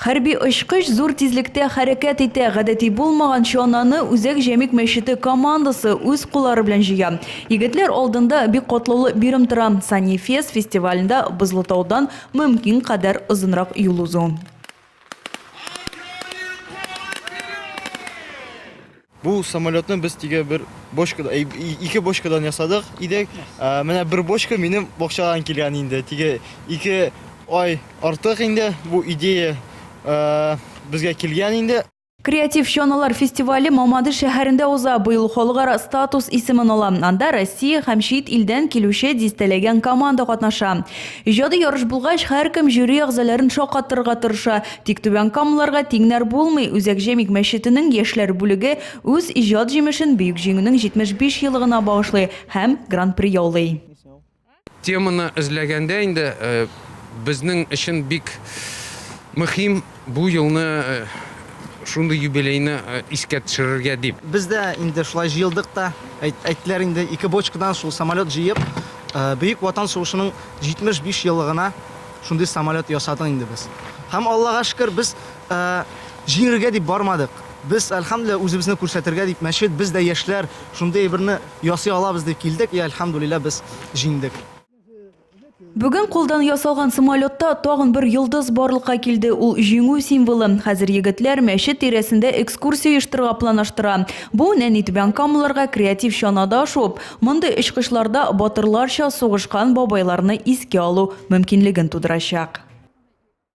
Хәрби очкыч зур тизлектә хәрәкәт итә. Гадәти булмаган чананы Үзәк Җәмик мәчете командасы үз куллары белән җыя. Егетләр алдында бик катлаулы бирем тора, Санифест фестивалендә Бозлытаудан мөмкин кадәр озынрак юл узу. Бу самолетны без тиге бер бочкада, э, ике бочкадан ясадык идек. Э, менә бер бочка минем бакчадан килгән инде. Тиге ике ай артык инде бу идея э, безгә килгән инде. Креатив чаналар фестивале Мамады шәһәрендә уза. Быел халыкара статус исемен ала. Анда Россия һәм чит илдән килүче дистәләгән команда катнаша. Иҗади ярыш булгач, һәркем жюри әгъзаларын шаккатырырга тырыша. Тик Түбән Камаларга тиңнәр булмый, Үзәк Җәмигъ мәчетенең яшьләр бүлеге үз иҗат җимешен Бөек Җиңүнең 75 елыгына багышлый һәм Гран-при яулый. Теманы эзләгәндә инде безнең өчен бик мөхим бу елны, шундый юбилейны искә төшерергә дип. Без дә инде шулай җыелдык та, әйттеләр инде, ике бочкадан шул самолет җыеп, Бөек Ватан сугышының 75 елыгына, Шундый самолет ясадык инде без. Һәм Аллага шөкер, без җиңергә дип бармадык. Без, әлхәмдүлилләһ, үзебезне күрсәтергә дип, мәчет, без дә яшьләр, шундый әйберне ясый алабыз дип килдек, и әлхәмдүлилләһ, без җиңдек. Бүген кулдан ясалган самолетта тагын бер йолдыз барлыкка килде, ул җиңү символы. Хәзер егетләр мәчет тирәсендә экскурсия оештырырга планаштыра. Бу, нәни түбәнкамалыларга креатив чанада шуып, Мондый очкычларда батырларча сугышкан бабайларны искә алу мөмкинлеген тудырачак.